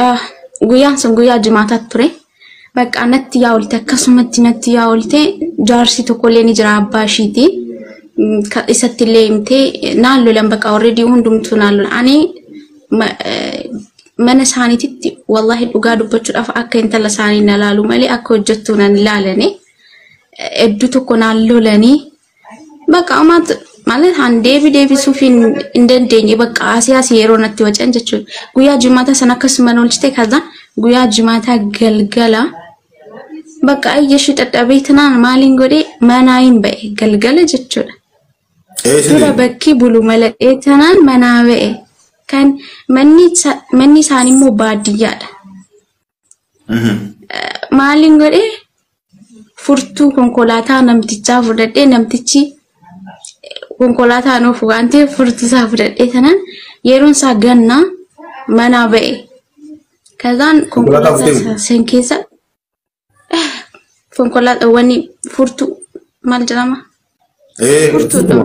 Ah, guyyaan sun guyyaa jimaataa ture. Bakka natti yaa oolte akkasumatti natti yaa oolte jaarsi tokkollee ni jira abbaa ishiiti. Mm, ka- Isatti illee himtee eh, naan lolan bakka already hundumtuu naan lolan. Ani ma- eh, mana isaaniititti wallahi dhugaa dubbachuudhaaf akka intala isaanii na laalu malee akka hojjettuu nan ilaalanii. Hedduu tokko naan lolanii Bakka ammaatti malee haan deebii deebisuuf hin hin dandeenye bakka asii asii yeroo natti wacan jechuudha. Guyyaa jimaataa san akkasuma na oolchite kaza guyyaa jimaataa galgala bakka ayyashii dadhabee tanaan maaliin godhee manaa hin ba'e galgala jechuudha. Ee Dura sini. bakki bulu maladhee tanaan manaa ba'e kan manni isa- manni isaanii immoo baadiyyaadha. Maaliin godhee furtuu konkolaataa namtichaa fudhadhee namtichi konkolaataa nuuf waan ta'eef furtuu isaa fudhadhee tanaan yeroon isaa gannaa manaa ba'e. Kazaan konkolaataa isaa san keessa konkolaataa wani furtuu maal jedhama? Furtuudha.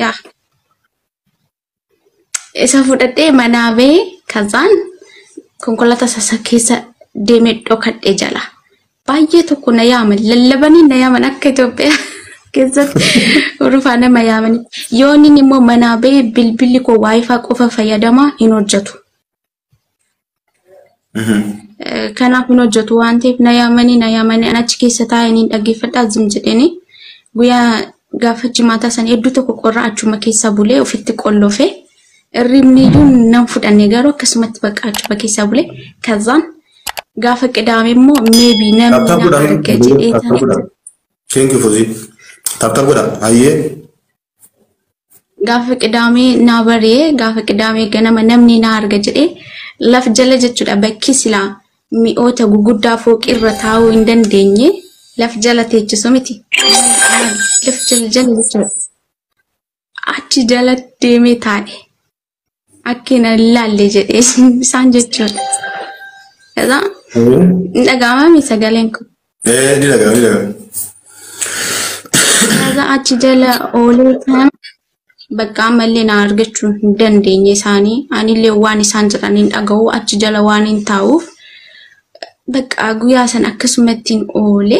Yaa. isa fudhadhee manaa bee kazaan konkolaataa sasa keessa deemee dhokadhe jala. Baay'ee tokko na yaaman lallabanii na yaaman akka Itoophiyaa keessatti urufaa nama yaamanii. Yooniin immoo manaa bee bilbilli koo waayifaa qofa fayyadamaa hin hojjetu. Kanaaf hin hojjetu waan ta'eef na yaamanii na yaamanii an achi keessa taa'ee niin dhaggeeffadhaa zim jedheenii guyyaa gaafa jimaataa san hedduu tokko qorra achuma keessaa bulee ofitti qollofe irribni iyyuu nan fudhanne garuu akkasumatti bakka achuma keessaa bulee kazaan gaafa qidaame immoo meebii namni Taptap nama godha. arga jedhee Taptap godha. tana Thank you Fuzii. Taptap godha. Hayyee. gaafa qidaamee naa bari'e gaafa qidaamee ganama namni naa arga jedhe laf jala jechuudha bakki silaa mi'oota guguddaa fooqii irra taa'uu hin dandeenye laf jala teechisu miti laf jala jala jechuudha achi jala deemee taa'e Akki na laalle jedhee isaan jechuudha. Kaza hin dhaga'amami sagaleen kun. Eh, ni dhaga'ama, ni dhaga'ama. Kaza achi jala oolee kan bakka ammallee na argachuu hin dandeenye isaanii anillee waan isaan jedhan hin dhaga'u achi jala waan hin taa'uuf bakka guyyaa san akkasumattiin oole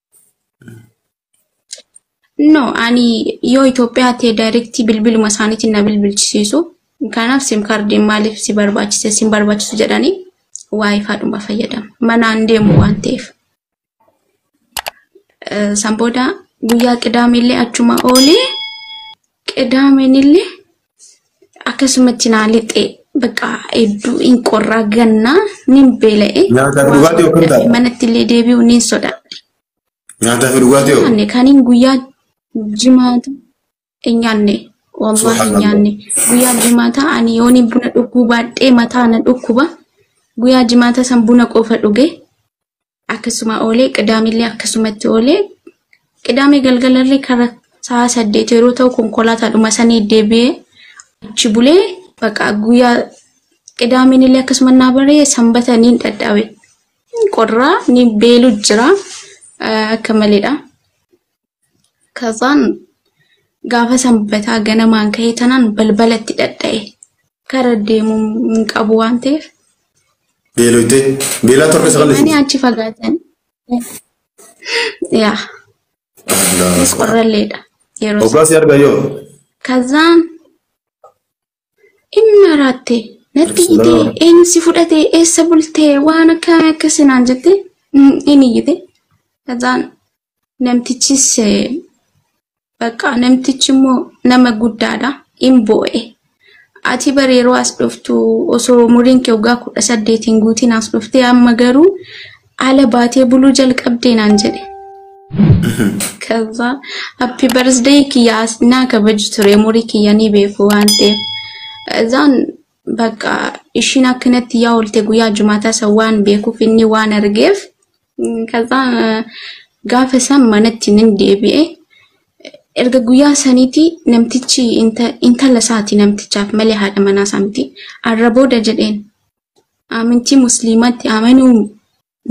No, ani yoo Itoophiyaa ta'e daayirektii bilbiluma isaaniitiin na bilbilchisiisu. Kanaaf sim kaardiin maaliif si barbaachise sin barbaachisu jedhanii waayifaa dhuma fayyadamu. Manaan deemu waan ta'eef. Eh, San booda guyyaa qidaamee illee achuma oolee qidaameen illee akkasumatti naa lixee bakka hedduu hin qorraa gannaa nin beela'e Nyaataa fi dhugaatii hoo kam taate? manatti illee deebi'u nin sodaadhe. Nyaataa fi dhugaatii hoo? nyaanne kanin guyyaa jimaata hin nyaanne waan hin Subhanallah. nyaanne guyyaa jimaata ani yooni buna dhuguu baadhee mataa na dhukkuba guyyaa jimaata san buna qofa dhuge akkasuma oolee qidaamillee akkasumatti oolee qidaamee galgalallee kara sa'a saddeet yeroo ta'u konkolaataadhuma sanii deebi'ee achi bulee baqa guyyaa qidaaminillee akkasuma naa baree sanbata niin dhadhaawe qorraa ni beelu jira akka maleedha. Kazaan gaafa sanbataa ganamaan ka'ee tanaan balbalatti dhadha'e. Kara deemuu hin qabu waan ta'eef. Beeloytee. Beelaa torka isa qalleessu. Deemanii achi fagaatan. Yaa. Innis qorralleedha. Yeroo Obbaas si argaa yoo. Kazaan Inni maraatte natti iyyitee Asalaam. eenyu si fudhatee eessa bultee waan akkaamii akkasii naan jette mm, inni iyyite. Kazaan namtichis eh, bakka namtichi immoo nama guddaadha in boo'e. Ati bari yeroo as dhuftu osoo umuriin kee waggaa kudha saddeetiin guutiin as dhuftee amma garuu Ala baatee buluu jalqabdee naan jedhe. Kaza happy birthday kiyya as naa kabaju ture umurii kiyya ni beeku waan ta'eef. Kazaan bakka ishiin akkanatti yaa oolte guyyaa jumaataa san waan beekuuf inni waan argeef. Kazaan gaafa san manatti nan deebi'e. Erga guyyaa saniiti namtichi inta- intala isaati namtichaaf malee haadha manaa isaa miti. Arra booda jedheen Amantii musliimaatti amanuu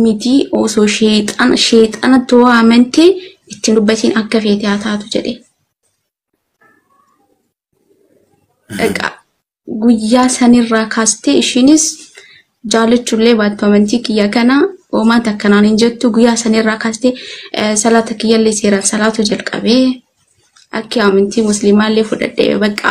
miti osoo sheexana sheexanatti hoo amante ittiin dubbatiin akka feete haa taatu jedhe. Dhaqa guyyaa sanirraa kaastee ishiinis jaalachuullee baattu amantii kiyya kana hoomaa takkanaan hin jettu guyyaa sanirraa kaastee eh, salaata kiyyallee seeraan salaatu jalqabee akki amantii musliimaallee fudhadhee bakka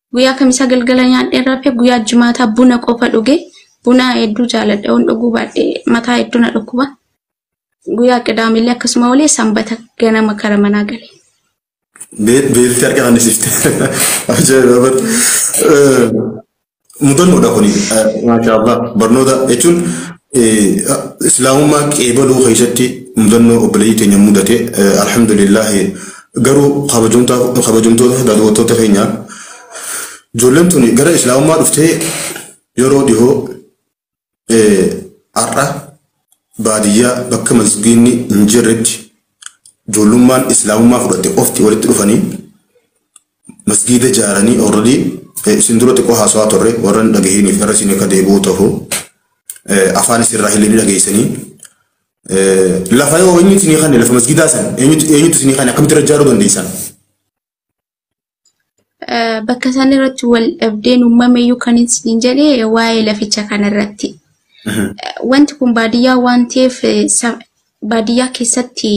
Guyyaa kamisaa galgala nyaadheen rafe guyyaa jimaataa buna qofa dhuge buna hedduu jaaladha on dhuguu baadhe mataa hedduu na dhukkuba. Guyyaa qidaamillee akkasuma olee sanbata ganama kara manaa gale. Beelti harka fannisiifte. Ajaa'iba bar. Mudannoodha kuni. Maashaa Allah. Barnoota jechuun islaamummaa qeebaluu keessatti mudannoo obboleeyyii teenya mudate alhamdulillah Garuu kabajamtoota daawwattoota keenyaa ijoolleen tuni gara islaamummaa dhuftee yeroo dhihoo har'a baadiyyaa bakka masgiinni hin jirretti ijoollummaan islaamummaa fudhatte qofti walitti dhufanii masgiida ijaaranii already isin dura xiqqoo haasawaa turre warra hin dhagahiniif irra isin akka deebi'uu ta'u afaan isin irraa hin dhageessanii Lafa yoo eenyutu isinii kanne lafa masgidaa san eenyutu eenyutu isinii kanne akkamitti irra ijaaruu dandeessan? Eh, Bakka isaan irratti wal dhabdeen uumame iyyuu kan isin jedhe waa'ee laficha kanarratti. Eh, Wanti kun baadiyyaa waan ta'eef eh, sa- baadiyyaa keessatti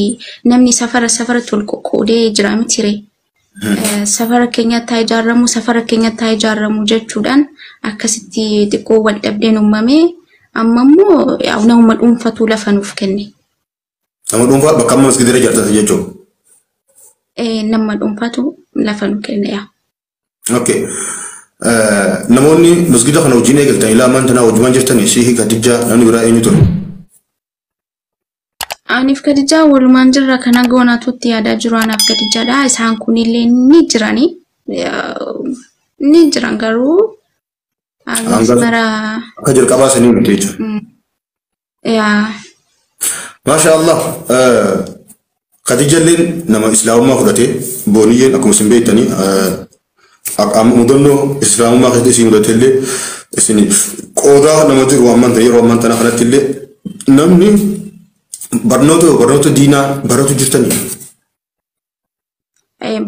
namni safara safara tol qoqqoodee jira mitire. safara keenyatti haa ijaarramu safara keenyatti haa ijaarramu jechuudhaan akkasitti xiqqoo wal dhabdeen uumamee amma immoo yaa nama dhuunfatu lafa nuuf kenne. Nama dhuunfaa bakka amma maskiidira ijaartatu jechuun. Eh, Nama dhuunfatu lafa nu kenne yaa. Okay. Namoonni masgiida kana wajjin eegaltan ilaa ammaan tanaa wajjumaan jirtanii Sheekh Kadijjaa namni biraa eenyu ture? Aniif kadijaa walumaan jirra kana goonaatutti yaadaa jiru anaaf kadijaadha. Isaan kunillee ni jirani. Ni jiran garuu almost Hanga- mara Akka jalqabaa sanii miti jechuudha. yaa Maasha Allah. Kadijalleen nama islaamummaa fudhate booniyyeen akkuma isin beektanii mudannoo islaamummaa keessatti isin mudate illee isiniif qoodaa nama jiru amman ta'e yeroo amman tana kanatti illee namni barnoota barnoota diinaa baratu jirtanii.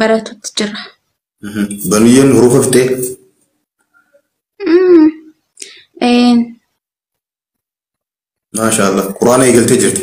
Baratutti jira. Booniyyeen hurufa fixee. Maashaallah quraana eegaltee jirti.